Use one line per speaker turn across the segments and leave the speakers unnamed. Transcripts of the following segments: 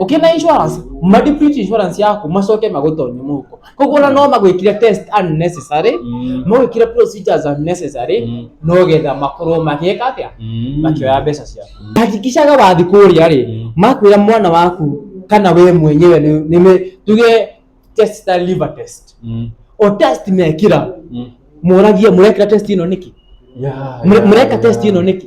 ukina insurance madeplete insurance yaku macoke magutonye muko koguo ona no magwikire test unnecessary Mm. magwikire procedures unnecessary Mm. no getha makorwo magika atia Mm. makioya mbeca ciaku hakikishaga wathi kũrĩa rĩ Mm. makwĩra mwana waku kana we mwenyewe nĩ- nĩ me- tuge test ta liver test Mm. o test mekĩra Mm. mũragie mũrekĩra test ĩno nĩkĩ Yeah, Mũre- yeah, mũreka yeah. test ĩno nĩkĩ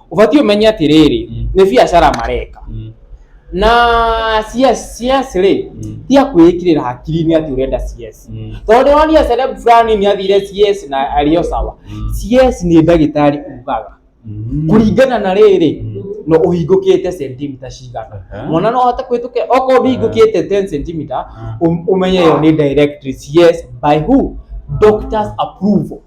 ũbatiĩ ũmenye atĩrĩrĩ Mm. nĩ biacara mareka Mm. na CS CS rĩ Mm. ti akwĩĩkĩrĩra hakiri-inĩ atĩ ũrenda CS Mm. tondũ ndĩronia celeb fulani nĩ athire CS na arĩo sawa Mm. CS nĩ ndagĩtarĩ ugaga Mm. kũringana na rĩrĩ Mm. no ũhingũkĩte sentimita cigana Aha. mwana no ahote kũhĩtũkĩra okorwo ndũhingũkĩte 10 sentimita Ah. ũmenye ĩyo nĩ directory yes by who doctors approval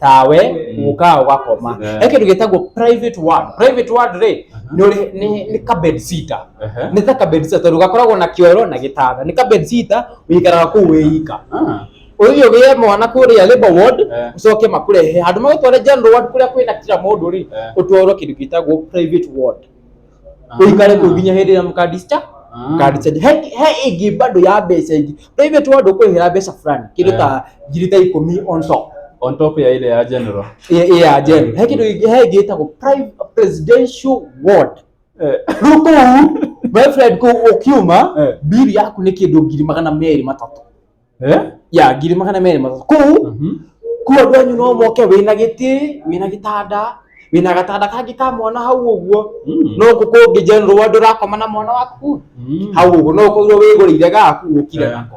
tawe ũkaga ũgakoma Yeah. he kĩndũ gĩtagwo private ward private ward rĩ nĩ ũrĩ- nĩ- nĩ ka bed sitter Ehe. nĩ ta ka bed sitter tondũ gakoragwo na kĩoro na gĩtanda nĩ ka bed sitter ũikaraga kũu wĩika Ah. ũthiĩ ũgĩe mwana kũrĩa labor ward Eh. ũcoke makũrehe handũ magũtware general ward kũrĩa kwĩna kira mũndũ rĩ Eh. ũtwarwo kĩndũ gĩtagwo private ward uikare kå nginya hä ndä ä rä a må kandista kandicage he he ĩngĩ bado ya mbeca ingĩ private ward ũkwĩhera mbeca fulani kĩndũ ta ngiri ta ikũmi on top on top ya ile ya general ĩ- ĩ ya jen he kĩndũ ĩngĩ- he ĩngĩ ĩtagwo private presidential ward Eh, rĩu kũu my friend kũu ũkiuma Eh. biri yaku nĩ kĩndũ ngiri magana merĩ matatũ Eh? ya ngiri magana merĩ matatũ kũu Mhm. kuu andũ anyu no moke wĩna gĩtĩ wĩna gĩtanda wĩna gatanda kangĩ ka mwana hau ũguo Mm. no kũ kũngĩ general wa ndũrakoma na mwana waku Mm. hau ũguo no kũirwo wĩgũrĩire gaku ũkire Eh. nako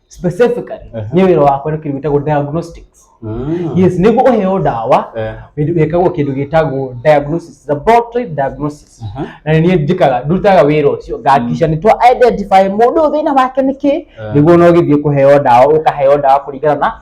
specifically Ehe. nĩ wĩra wakwa nĩ kĩndũ gĩtagwo diagnostics Mm. yes nĩguo ũheo ndawa Eh, wĩkagwo kĩndũ gĩtagwo diagnosis laboratory diagnosis aha. na nĩ niĩ njĩkaga ndutaga wĩra ũcio ngakica nĩ twa identify mũndũ ũyũ thĩna wake nĩ kĩ Eh. nĩguo no gĩthiĩ kũheo ndawa ũkaheo ndawa kũringana na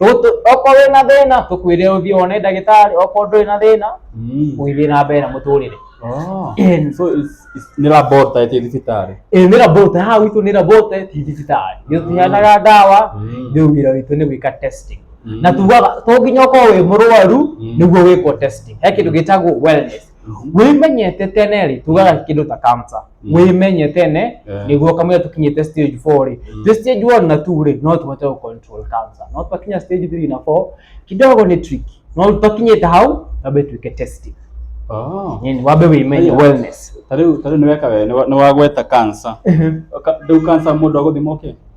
okorwo na thina tukwire uthie wone ndagitari okorwo nduri na thina uthie na mbere na muturire nä rabota ä thibitarä nä rabota ha witå nä rabota ti thibitarä nä tå heanaga ndawa rä u wä ra witå nä gwä ka testing na tugaga to nginya ũkorwo wĩ mũrwaru nĩguo wĩkwo testing he kĩndũ gĩtagwo wellness wĩmenye tene rĩ tugaga kĩndũ ta kamsa mm. wĩmenye tene yeah. nĩguo kamwe tũkinyĩte stage 4 rĩ mm. the stage 1 na 2 rĩ no tũhote gũ control kamsa no twakinya stage 3 na 4 kidogo nĩ trick no twakinyĩte hau tambe tuike testing Oh. Nini wabe wĩmenye wellness. Tarĩu tarĩu nĩ weka we nĩ wagweta kansa. Ndĩu kansa mũndũ agũthimwo kĩ?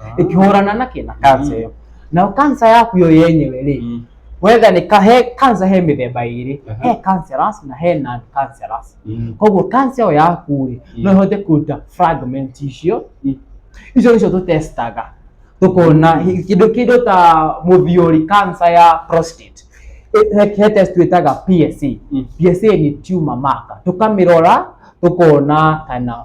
Ah. ĩkĩhũrana na kĩna kansa ĩyo nao kansa yaku yo yenyewe rĩ Mm. wetha nĩ ka- he kansa he mĩthemba ĩrĩ Aha. he cancerous na he non cancerous Mm. koguo kansa ĩyo yaku rĩ Mm. no ĩhote kũruta fragment icio Mm. icio nĩcio tũtestaga tũkona hi- kĩndũ kĩndũ ta mũthiũri kansa ya prostate Ĩ- he- he test twĩtaga PSA Mm. PSA nĩ tumor marker tũkamĩrora tũkona kana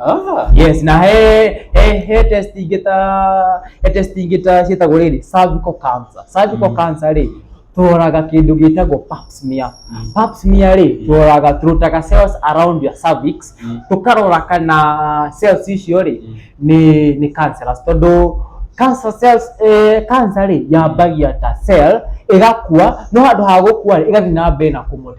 Ah. yes na he he he test ingĩ ta he test ingĩ ta ciĩtagwo rĩrĩ cervical cancer cervical Mm. cancer rĩ tũroraga kĩndũ gĩtagwo pap smear Mm. pap smear rĩ tũroraga tũrutaga cells around your cervix Mm. tũkarora kana cells icio rĩ Mm. nĩ nĩ cancerous tondũ cancer cells eh, cancer rĩ yambagia ta cell ĩgakua no handũ ha gũkua rĩ ĩgathiĩ na mbere na kũmũ-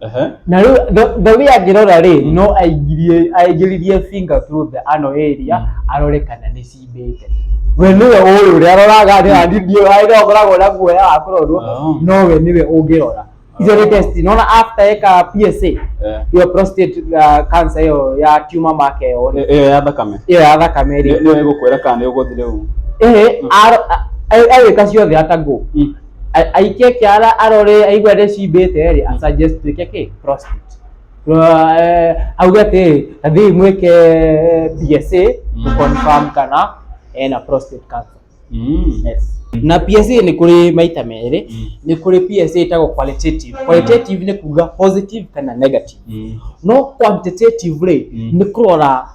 Ehe. na rĩu the- the way angĩrora rĩ no aingĩrie aingĩririe finger through the ano area arore kana nĩ cimbĩte we nĩwe ũĩ ũrĩa aroraga nĩ andidio harĩa ũkoragwo na guoya wa kũrorwo Oh. no we nĩwe ũngĩrora icio nĩ test nona after eka PSA Eh. iyo prostate uh, cancer iyo ya tumor mark iyo rĩ Ĩyo ya thakame. iyo ya thakame Nĩ- rĩ Nĩyo ĩgũkwĩra kana nĩ ũgũthi rĩu. ĩhĩ agĩka ciothe atagwo Mm. A- aikie kiara arore aigua ndecimbĩte rĩ asuggest twĩke kĩ prostitute Ra- eh, auge atĩ athiĩ mwĩke PSA Mm. to confirm kana ena prostate cancer Mm. yes. na PSA nĩ kũrĩ maita merĩ Mm. nĩ kũrĩ PSA ĩtagwo qualitative qualitative nĩ kuga positive kana negative Mm. no quantitative rĩ Mm. nĩ kũrora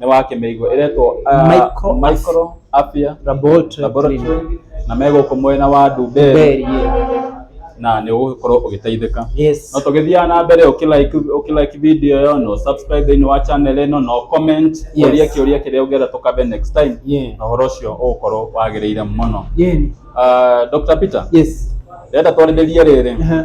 nĩ wa kĩmĩigua ĩretwo ah, Micro- micro apia Laboratory laboratory clinic. na megũkũ mwena wa Ndumberi Very, yeah. na nĩ ũgũkorwo ũgĩteithĩka Yes. no tũgĩthiaga na mbere ũkĩlike ũkĩlike video ĩyo no subscribe thĩinĩ wa channel ĩno no comment Yes. ũrie kĩũria kĩrĩa ũngĩenda tũkabe next time Yeah. na ũhoro ũcio ũgũkorwo wagĩrĩire mũno Yeah. Ah, Dr Peter Yes. ndĩrenda twarĩrĩrie rĩrĩ Aha.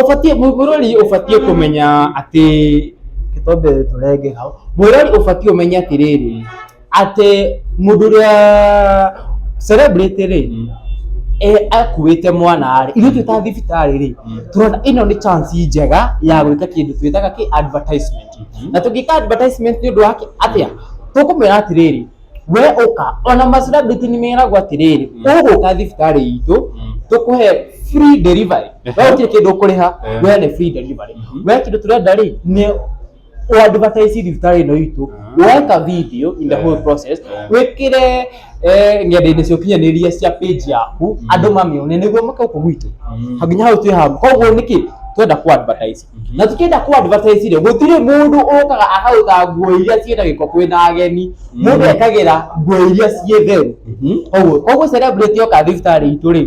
Ũbatiĩ, mũrori ũbatiĩ kũmenya atĩ, reke twambe tũrenge hau, mũrori ũbatiĩ ũmenye atĩrĩrĩ, atĩ mũndũ ũrĩa celebrity rĩ, akuĩte mwana rĩ, ithuĩ twĩ ta thibitarĩ rĩ, tũrona ĩno nĩ chance njega ya gwĩka kĩndũ twĩtaga kĩ? advertisement. Na tũngĩka advertisement nĩ ũndũ wa atĩa? Tũkũmwĩra atĩrĩrĩ. we ũka ona macirabiti nĩ meragwo atĩrĩrĩ Mm. ũgũka thibitarĩ itũ Mm. tũkũhe free delivery Ehe. we ũtirĩ kĩndũ ũkũrĩha Eh. we nĩ free delivery Mhm. we kĩndũ tũrenda rĩ nĩ ũadvertise thibitarĩ ĩno itũ Ah. weka video in the Eh. whole process Eh. wĩkĩre eh, ng'enda-inĩ cia ũkinyanĩria cia page yaku Mm. andũ mamĩone nĩguo makauka gwitũ Mm. nginya hau twĩ haha koguo nĩkĩ twenda kũ advertise na tukienda ku advertise rĩ gutire mundu ukaga akaruta nguo iria ciĩ na giko kwĩ na ageni mundu ekagira nguo iria ciĩ theru koguo koguo celebrity oka thibitarĩ itũ rĩ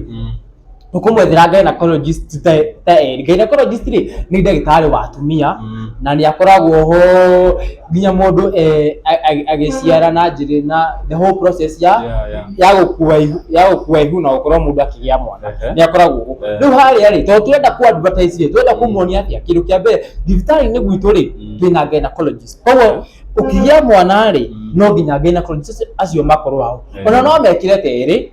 tukumwethera gynecologist ta ta eri gynecologist rĩ nĩ ndagĩtarĩ wa atumia na nĩ akoragwo ho nginya mũndũ eh, a- a- agĩciara na njĩrĩ na the whole process ya Yeah, yeah. ya gũkua ihu ya gũkua ihu na gũkorwo mũndũ akĩgĩa mwana Ehe. nĩ akoragwo ũguo Eh. rĩu harĩa rĩ tondũ twenda kũ advertise rĩ twenda kũmuonia atĩa kĩndũ kĩa mbere thibitarĩ-inĩ gwitũ rĩ Mm. twĩna gynecologist koguo ũkĩgĩa mwana rĩ Mm. no nginya gynecologist acio makorwo hau Yeah. ona no mekĩre terĩ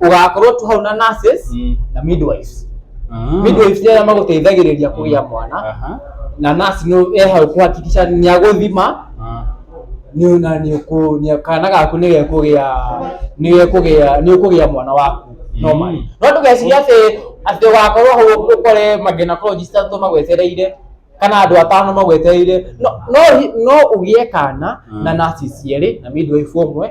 ugakorwo tu hau na nurses Mm. na midwives Ah. midwives nĩ arĩa magũteithagĩrĩria kũgĩa mwana Aha. na nurse nĩ e hau kũhakikisha nĩ agũthima Ah. nĩ na nĩ ũkũ nĩ kana gaku nĩ gekũgĩa nĩ gekũgĩa nĩ ũkũgĩa mwana waku no Mm. mari no ndũgeciria atĩ atĩ ũgakorwo hau ũkore magenacologist atũ magwetereire kana andũ atano magwetereire no no hi- no ũgĩe kana Mm. na nurses cierĩ na midwife ũmwe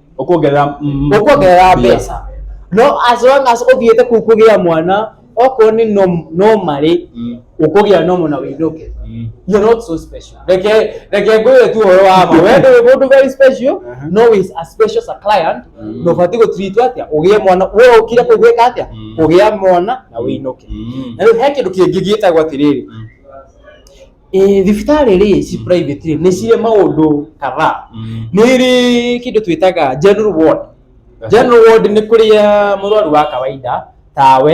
ũkuongerera mm, ũkuongerera mbia. mbeca no as long as ũthiĩte kuu kũgĩa mwana okorwo nĩ nom- nomarĩ Mm, ũkũgĩa nomo na wĩinũke mm. you're not so special reke reke ngwĩre tu ũhoro wa ma wende wĩ mũndũ very special Aha. no is as special as a client Mm. na ũbatiĩ gũtiritwo atĩa ũgĩe mwana we ũkire kũu gwĩka atĩa Mm. ũgĩa mwana na wĩinũke Mm. na rĩu he kĩndũ kĩngĩ gĩtagwo atĩrĩrĩ Mm. Ĩĩ, thibitarĩ rĩ ci private rĩ nĩ cirĩ maũndũ kadhaa Mm. nĩ ĩrĩ kĩndũ twĩtaga general ward general ward nĩ kũrĩa mũrwaru wa kawaida tawe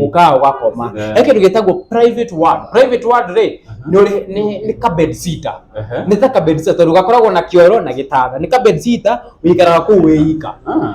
ũkaga ũgakoma Yeah. he kĩndũ gĩtagwo private ward private ward rĩ nĩ ũrĩ- nĩ- nĩ ka bed sitter Aha. nĩ ta ka bed sitter tondũ gakoragwo na kĩoro na gĩtanda nĩ ka bed sitter ũikaraga kũu wĩ ika Ah.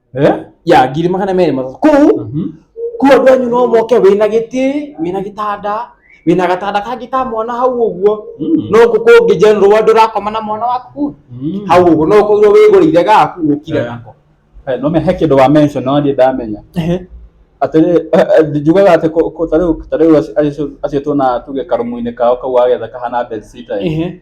Eh? ya ngiri magana merĩ matatũ kũu Mhm. kũu andũ anyu no moke wĩna gĩtĩ wĩna gĩtanda wĩna gatanda kangĩ ka mwana hau ũguo Mm. no gũkũngĩ general andũ ũrakoma na mwana waku kũu Mm. hau ũguo no kũu wĩgũrĩire gaku ũkire Eh. nako Eh, no me he kĩndũ wa mention no niĩ ndamenya atĩrĩ njugaga atĩ kũ- kũ- ta rĩu ta rĩu aci- acio- acio tuona tuge karũmu-inĩ kao kau agetha kahana bedsitter Ehe.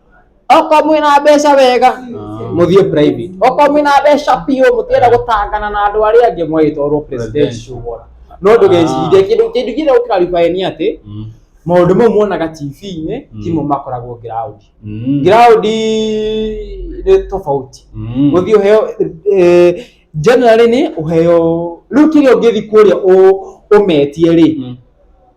okorwo mwĩ na mbeca wega mũthiĩ private okorwo mwĩ na mbeca biũ mũtienda gũtangana na andũ arĩa angĩ mwagĩtwarwo presidential ward no ndũgecirie kĩndũ kĩndũ kĩrĩa ũkaribae nĩ atĩ Mm. maũndũ mau muonaga tv-inĩ Mm. timo makoragwo ground Mm. ground nĩ tofauti Mm. gũthiĩ ũheo eh, generally nĩ ũheo rĩu kĩrĩa ũngĩthi kũrĩa ũ- ũmetie rĩ Mm.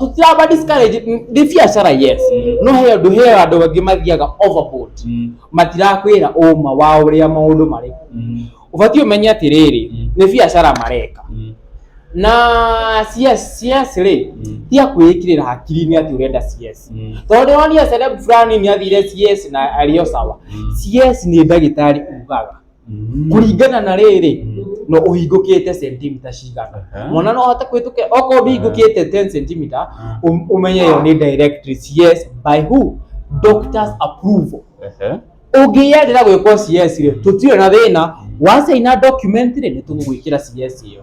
tũtiramba discourage nĩ biacara yes no he andũ he andũ angĩ mathiaga overboard matirakwĩra ũma wa ũrĩa maũndũ marĩ ũbatiĩ ũmenye atĩrĩrĩ nĩ biacara mareka na CS CS rĩ tia kwĩĩkĩrĩra hakiri-inĩ atĩ ũrenda CS tondũ nĩ wonire celeb fulani nĩ athire CS na arĩ o sawa CS nĩ ndagĩtarĩ ugaga kũringana na rĩrĩ no ũhingũkĩte sentimita cigana Aha. mwana no ahote kũhĩtũkĩra okorwo ũhingũkĩte 10 sentimita Ah. um- umenye yo nĩ directories yes by who doctors approval Aha. ũngĩyendera gwĩkwo CS rĩ tũtirĩ na thĩna wacaina document rĩ nĩ tũgũgwĩkĩra CS ĩyo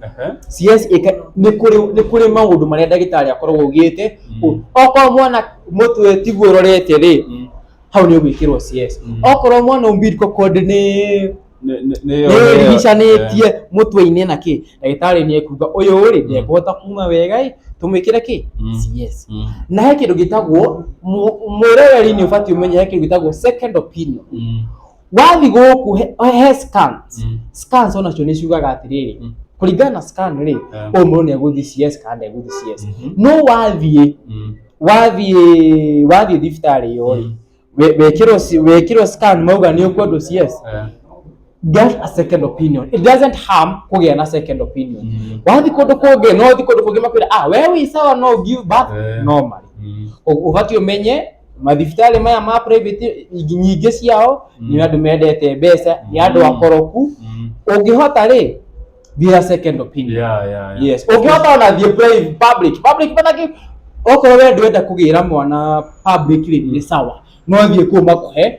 Aha. siwezi ika- nĩ kũrĩ nĩ kũrĩ maũndũ marĩa ndagĩtarĩ akoragwo augĩte Mm. okorwo mwana mũtwe tiguo ũrorete rĩ Mm. hau nĩ ũgwĩkĩrwo cs Mm. okorwo mwana umbilical cord nĩ Nĩ- nĩ- nĩ- nĩrigicanĩtie Eh. mũtwe-inĩ na kĩ ndagĩtarĩ nĩ ekuga ũyũ rĩ ndekũhota kuma wega ĩ tũmwĩkĩre kĩ Mm. cs Mm. na he kĩndũ gĩtagwo mu- mũroreri nĩ ũbatiĩ ũmenye he kĩndũ gĩtagwo second opinion Mm. wathi gũkũ he- he scans Mm. scans onacio nĩ ciugaga atĩrĩrĩ Mm. kũringana na scan rĩ Eh. ũyũ mũndũ nĩ egũthiĩ cs kana ndegũthiĩ cs Mhm. no wathiĩ Mm. wathiĩ wathiĩ thibitarĩ ĩyo rĩ Mm. we- wekĩrwo ci- wekĩrwo scan mauga nĩ ũkwendwo cs Eh. get a second opinion it doesn't harm kũgĩa na second opinion Mm. wathiĩ kũndũ kũngĩ no ũthiĩ kũndũ kũngĩ makwĩra ah we wĩ sawa no give birth Eh. normally Mm. Ũ- ũbatiĩ ũmenye mathibitarĩ maya ma private nyingĩ ciao nĩ andũ mendete mbeca nĩ andũ Mm. akoroku Mm. ũngĩhota rĩ thia second opinion Yeah, yeah, yeah. yes ũngĩhota ona thiĩ private public public manake okorwo we ndwenda kũgĩra mwana public rĩ nĩ sawa no thiĩ kuo makũhe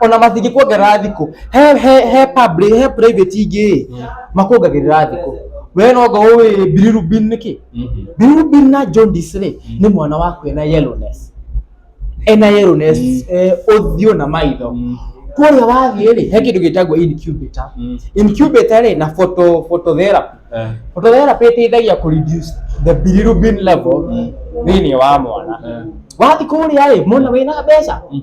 ona matingĩkuongerera thikũ he he he public he private ingĩ makuongagĩrĩra thikũ we no ngo ũĩ bilirubin nĩ kĩ Mhm. bilirubin na jaundice rĩ nĩ mwana waku ena yellowness ena yellowness Mm. eh, ũthiũ na maitho Mm. kũrĩa wathiĩ rĩ he kĩndũ gĩtagwo incubator Mm. incubator rĩ na photo phototherapy Eh. phototherapy ĩteithagia kũ reduce the bilirubin level Mm. thĩinĩ wa mwana Mm. wathiĩ kũrĩa rĩ mwana wĩna mbeca Mm.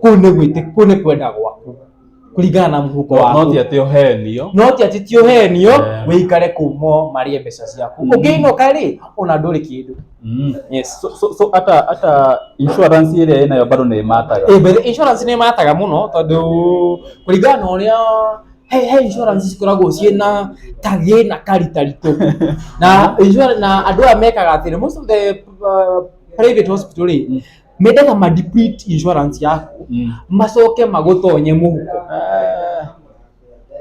kũu nĩ gwĩtĩ kũu nĩ kwenda gwaku kũringana na mũhuko no waku ti atĩ ũhenio no ti atĩ ti ũhenio Eh. wĩikare kũu mo marĩe mbeca ciaku Mm. ũngĩinũka rĩ ona ndũrĩ kĩndũ Mm. yes so, so, so ata hata insurance ĩrĩa ĩnayo bado nĩ ĩmataga Eh, but insurance nĩ mataga mũno tondũ kũringana na ũrĩa he, he insurance cikoragwo ciĩ na kagĩ na karitaritũ na, insura- na andũ aya mekaga atĩrĩ most of the uh, private hospital rĩ mende na madeplete insurance yaku Mm. macoke magutonye muhuko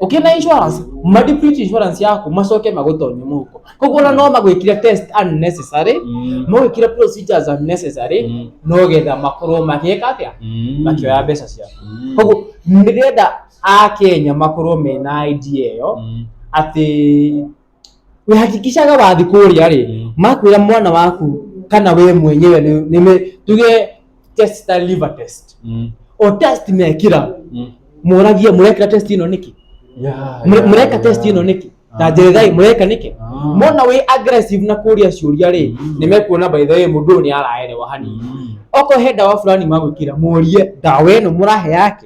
ukina insurance madeplete insurance yaku macoke magutonye muhuko koguo na no magwikire test unnecessary Mm. magwikire procedures unnecessary Mm. no getha makorwo magika atia Mm. makioya mbeca ciaku Mm. koguo ndirenda akenya makorwo mena idea ĩyo Mm. atĩ wehakikishaga wathi kũrĩa rĩ Mm. makwĩra mwana waku kana we mwenyewe nĩ- nĩme tuge test ta liver test Mm. o test mekĩra Mm. mũragie mũrekĩra test ĩno nĩkĩ Yeah, Mũre- yeah, mũreka yeah. test ĩno nĩkĩ Ah. ta njerethai mũreka nĩkĩ Ah. mona wĩ aggressive na kũria ciũria rĩ Mm. nĩ mekuona by the way mũndũ ũyũ nĩ araerewa hanini Mm. okorwo he ndawa fulani magwĩkĩra mũrie ndawa ĩno mũrahe yake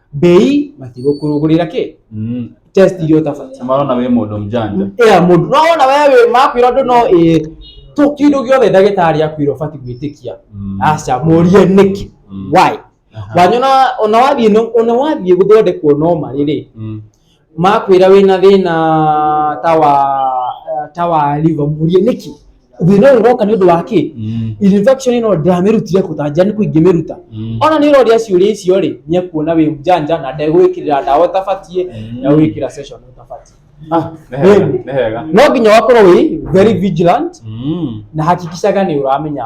bei matigũkũrũgũrĩra kĩ Mm. test iria ũtabatiĩ Na marona we mũndũ mjanja ĩya mũndũ no wona wewe makwĩra ũndũ no ĩĩ tũ kĩndũ gĩothe ndagĩtarĩ akwĩra ũbatiĩ gwĩtĩkia Mm. aca mũrie nĩkĩ Mm. why Aha. wanyona ona wathiĩ no- ona wathiĩ gũthondekwo no marĩ rĩ Mm. makwĩra wĩna thĩna ta wa eh, ta wa liver mũrie nĩkĩ thĩna ũyũ ũroka nĩ ũndũ wa kĩ Mm. infection ĩno ndamĩrutire kũtanjia nĩ kũingĩmĩruta Mm. ona nä roria ciå icio rä nä ekuona wä njanja na ndegwä kä rä ra ndawa å tabatiä Mm. na gwä kä ra å tabatiä Ah, nĩ hega, nĩ hega. no nginya wakorwo wä very vigilant Mm. na hakikicaga nä å ramenya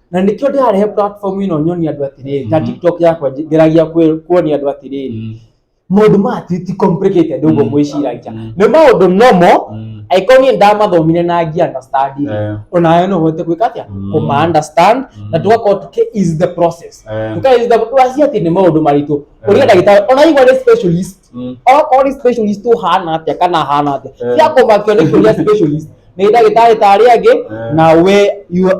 na nĩkĩo ndĩrarehe platform ĩno nyonie andũ atĩrĩrĩ ta Mhm. tiktok yakwa nj- ngeragia kwĩ- kuonia andũ atĩrĩrĩ maũndũ ma ti ti complicated ũguo Mm. mwĩciragia Mm. nĩ maũndũ normal Mm. angĩkorwo niĩ ndamathomire na ngi understand Eh. onawe no ũhote gwĩka atĩa Mm. kũma understand na Mm. tũgakorwo tũkĩ ease the process Eh. tũka ease the wacia atĩ nĩ maũndũ maritũ ũrĩa Eh. ndagĩtarĩ ona igwa nĩ specialist Mm. okorwo nĩ specialist ũhana atĩa kana hana atĩa Eh. cia kũmakio nĩ kũria specialist nĩ ndagĩtarĩ ta arĩa angĩ Eh. na we you are-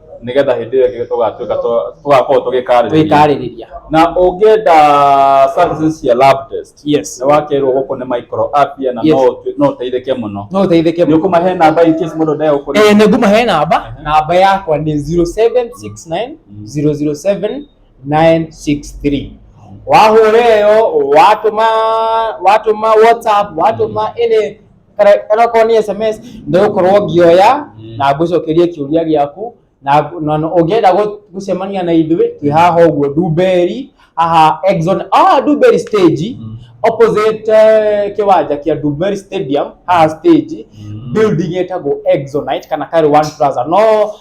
nĩgetha hĩndĩ ĩyo ĩngĩ tũgatuĩka tũ- tũgakorwo tũgĩkarĩrĩria twĩkarĩrĩria na ũngĩenda services cia lab test yes nĩ wakerwo gũkũ nĩ micro app ya na Yes. no ũtu- no ũteithĩke mũno no ũteithĩke nĩ ũkũmahe namba in case mũndũ ndagĩa gũkũrĩha Eh, nĩnguma he namba namba yakwa nĩ 0769 007 963 wahũra ĩyo watũma watũma whatsapp watũma ĩnĩ kana okorwo nĩ sms nĩ gũkorwo ngĩoya na ngũcokerie kĩũria gĩaku na na- na ũngĩenda gũ- gũcemania na ithuĩ twĩ haha ũguo ndumbeeri haha exon ah ndumbeeri stage opposite eh, kĩwanja kĩa ndumbeeri stadium haha stage building ĩtagwo exonite kana karĩ one plaza no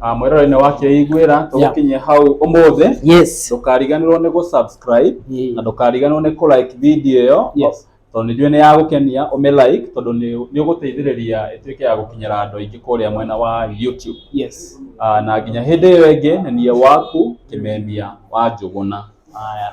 Ah, mwĩroreinĩ wa kĩiguĩra tũgũkinyia hau ũmũthĩ yes ndũkariganĩrwo nĩ gũsubscribe na ndũkariganĩrwo nĩ kũlike video ĩyo Yes. tondũ nĩnjũĩ nĩ ya gũkenia ũmĩlike tondũ nĩ nĩ ũgũteithĩrĩria ĩtuĩke ya gũkinyĩra andũ aingĩ kũrĩa mwena wa YouTube yes Ah, na nginya hĩndĩ ĩyo ĩngĩ nĩ niĩ waku kĩmemia wa njũgũna haya